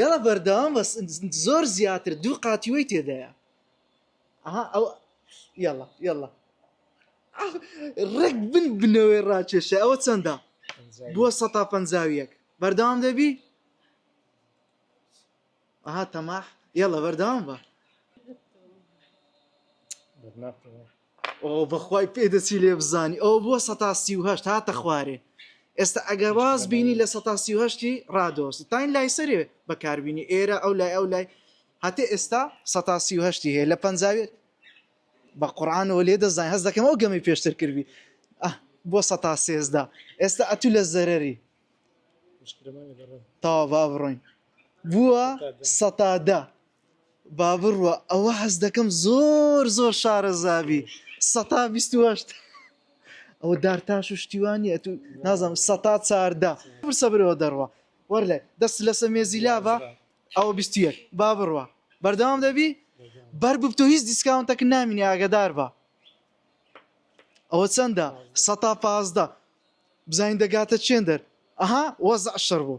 یاڵا بەردەوام بەس زۆر زیاتر دوو قاتیوەی تێدایە ئەها ئەو یاڵا یاڵا ڕێک بن بنەوەی ڕاکێشە ئەوە چەندە بووە سە پەنجاویەک بەردەوام دەبی ئەها تەماح یاڵە بەردەوام بە ئۆ بەخوای پێ دەچی لێ بزانی ئەو بۆ سەتا سی و هەشت هاتە خوارێ ئێستا ئەگەر واز بینی لە سەتا سی و هەشتی ڕادۆستی تاین لای سەرێ بەکاربیینی ئێرە ئەو لای ئەو لای هەتێ ئێستا سەتا سی و هەشتی هەیە لە پەنجاوێت بە قڕانەوە لێ دەزانین هەز دەکەم ئەو گەمی پێشتر کردی بۆ سەتا سێزدا ئێستا ئەتو لە زەرری تاوا با بڕۆین بووە سەتادا با بڕوا ئەوە حەز دەکەم زۆر زۆر شارەزابی سەتا بیست و هەشت ئەوە دارتاش و شتیوانە تو نازانم سەتا چاردە پرسە برەوە دەڕوە وەرلێ دەست لەسە مێزی لابە ئەوە بیست و یەک با بڕوە بەردەوام دەبی بەر ببتۆ هیچ دیسکاونتەکە نامینی ئاگدار بە ئەوە چەندە سەتا پازدە بزانین دەگاتە چێندەر ئەها وەزع شەڕ بوو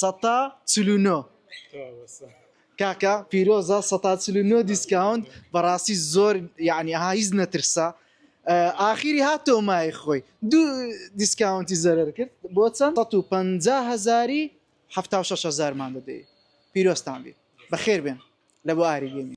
سەتا چل و نۆ کاکە پیرۆزە سەتا چل و نۆ دیسکاونت بەڕاستی زۆر یعنی ها هیچ نەترسا ئاخیری هاتۆ مای خۆی دوو دیسکاونتی زەرەر کرد بۆ چەند 150 هزاری 6 هزارمان دەدەی پیرۆستان بێ بەخێر بێن لە بۆ ئاری گەمی